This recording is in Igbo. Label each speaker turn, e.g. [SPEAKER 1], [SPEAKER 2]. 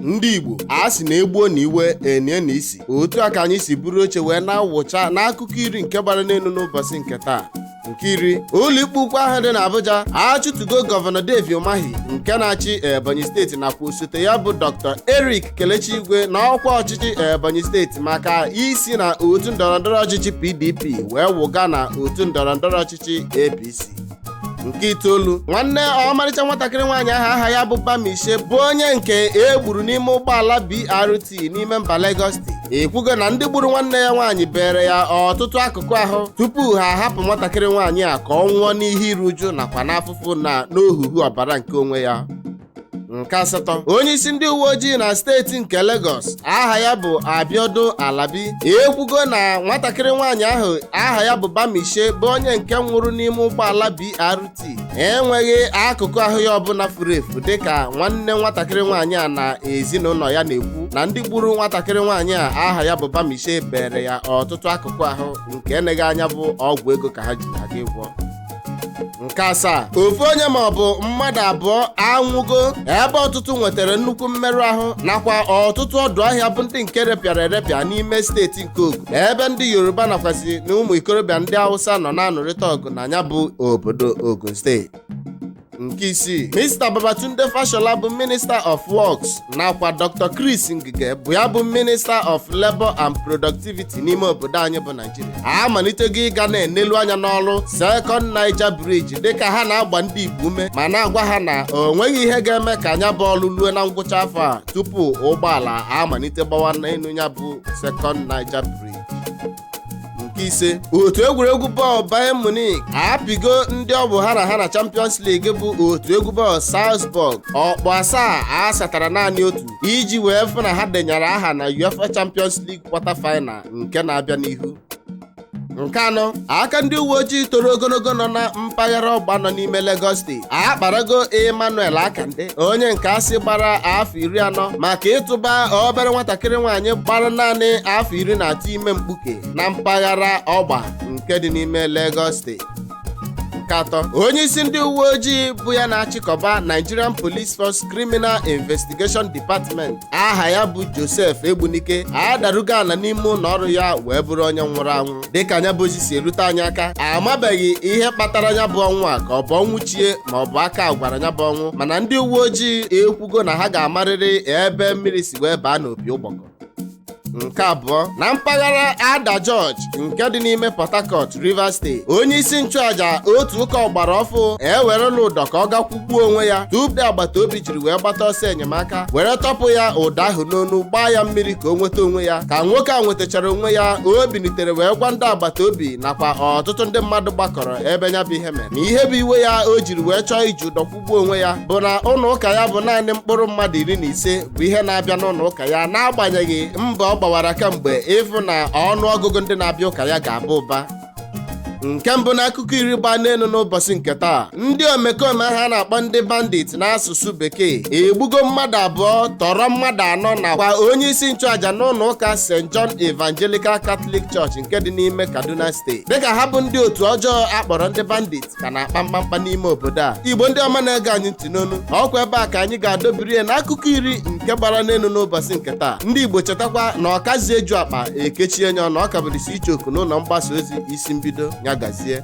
[SPEAKER 1] ndị igbo a sị na egbuo na iwe enie na isi otu a ka anyị si buru oche wee na-awụcha n'akụkọ iri nke gbara n'elu n'ụbọsị nke taa nke iri ụlọikpe ukwu ahụ dị n'Abuja achụtugo gọvanọ Dave Umahi nke na-achị Ebonyi steeti nakwa osote ya bụ Dr. Eric Kelechi Igwe na ọkwa ọchịchị Ebonyi steeti maka isi na otu ndọrọndọrọ ọchịchị PDP wee wụga na otu ndọrọndọrọ ọchịchị APC nke itoolu nwanne ọmalịcha nwatakịrị nwaanyị ahụ aha ya bụ Bamishe bụ onye nke e gburu n'ime ụgbọala BRT n'ime mba Lagos steeti ekwugo na ndị gburu nwanne ya nwaanyị beere ya ọtụtụ akụkụ ahụ tupu ha ahapụ nwatakịrị nwaanyị a ka ọ nwụọ n'ihe iru uju nakwa n'afụfụ na n'ohuhu ọbara nke onwe ya nke asatọ onye isi ndị uwe ojii na steeti nke Lagos aha ya bụ Abiodun Alabi ekwugo na nwatakịrị nwaanyị ahụ aha ya bụ Bamishe bụ onye nke nwụrụ n'ime ụgbọala BRT enweghị akụkụ ahụ ya ọbụla furu efu dịka nwanne nwatakịrị nwaanyị a na ezinụnọ ya na-ekwu na ndị gburu nwatakịrị nwaanyị a aha ya bụ Bamishe beere ya ọtụtụ akụkụ ahụ nke eneghị anya bụ ọgwụ ego ka ha ji aga ịgwọ nke asaa ofu onye ma ọ bụ mmadụ abụọ anwụgo ebe ọtụtụ nwetara nnukwu mmerụ ahụ nakwa ọtụtụ ọdụ ahịa bụ ndị nke repịara erepịa n'ime steeti nke Ogun ebe ndị Yoruba nakwasị na ụmụ ikorobịa ndị Awụsa nọ na-anụrịta ọgụ na nya bụ obodo Ogun steeti nke isii Mr. Babatunde Fashola bụ Minister of Works nakwa Dr. Chris Ngige bụ ya bụ Minister of Labour and Productivity n'ime obodo anyị bụ Naijiria a malitego ịga na-enelu anya n'ọrụ Second Niger Bridge dịka ha na-agba ndị Igbo ume ma na-agwa ha na o nweghị ihe ga-eme ka nya bụ ọrụ lue na ngwụcha afọ a tupu ụgbọala amalite gbawa n'enu nya bụ Second Niger Bridge nke ise otu egwuregwu bọọlụ Bayern Munich apịgo ndị ọ bụ ha na ha na Champions League bụ otu egwu bọọlụ Salzburg ọkpụ asaa a satara naanị otu iji wee fụ na ha denyere aha na UEFA Champions League quarter final nke na-abịa n'ihu nke anọ aka ndị uwe ojii toro ogonogo nọ na mpaghara ọgba nọ n'ime Lagos steeti akparago emmanuel akande onye nke a sị gbara afọ iri anọ maka ịtụba obere nwatakịrị nwaanyị gbara naanị afọ iri na atọ ime mkpuke na mpaghara ọgba nke dị n'ime lagos steeti nke atọ onye isi ndị uwe ojii bụ ya na-achịkọba nigerian police force criminal investigation department aha ya bụ joseph egbunike adarugo ana n'ime ụnọ ọrụ ya wee bụrụ onye nwụrụ anwụ dịka nya bụ ozi si erute anyị aka amabeghị ihe kpatara nya bụ ọnwụ a ka ọ bụ ọnwụ chie ma ọ bụ aka gwara nya bụ ọnwụ mana ndị uwe ojii ekwugo na ha ga-amarịrị ebe mmiri si wee baa n'opi ụgbọgọ nke abụọ na mpaghara Ada George nke dị n'ime Port Harcourt Rivers State onye isi nchụaja otu ụka ọgbara ọfụụ ewerela ụdọ ka ọ gakwụ gbuo onwe ya tupu agbata obi jiri wee gbata ọsọ enyemaka were tọpụ ya ụdọ ahụ n'onu gbaa ya mmiri ka o nweta onwe ya ka nwoke a nwetachara onwe ya o bilitere wee gwa ndị agbata obi nakwa ọtụtụ ndị mmadụ gbakọrọ ebe ya bụ ihe mere na ihe bụ iwe ya o jiri wee chọọ iji ụdọ kwụgbuo onwe ya bụ na ụlọ ụka ya bụ naanị mkpụrụ mmadụ iri na ise bụ ihe na-abịa n'ụlọ ụka ya n'agbanyeghị mbọ ọ gbawara kamgbe ịfụ na ọnụ ọgụgụ ndị na-abịa ụka ya ga-aba ụba nke mbụ n'akụkọ iri gbaa n'elu n'ụbọchị nke taa ndị omekome ahụ a na-akpọ ndị bandit n'asụsụ bekee egbugo mmadụ abụọ tọrọ mmadụ anọ nakwa onye isi nchụaja n'ụlọ ụka st john evangelical catholic church nke dị n'ime kaduna steeti dịka ha bụ ndị otu ọjọọ a kpọrọ ndị bandit ka na-akpa mkpamkpa n'ime obodo a igbo ndị ọma na-ege anyị ntị n'onu ọkwa ebe a ka anyị ga-adọbiri ya n'akụkọ iri nke gbara n'elu n'ụbọchị nke taa ndị igbo chetakwa na ọkazi eju akpa e kechie nya ọnụ ọ ka bụrịsị icheoku n'ụlọ mgbasa ozi isi mbido ya gazie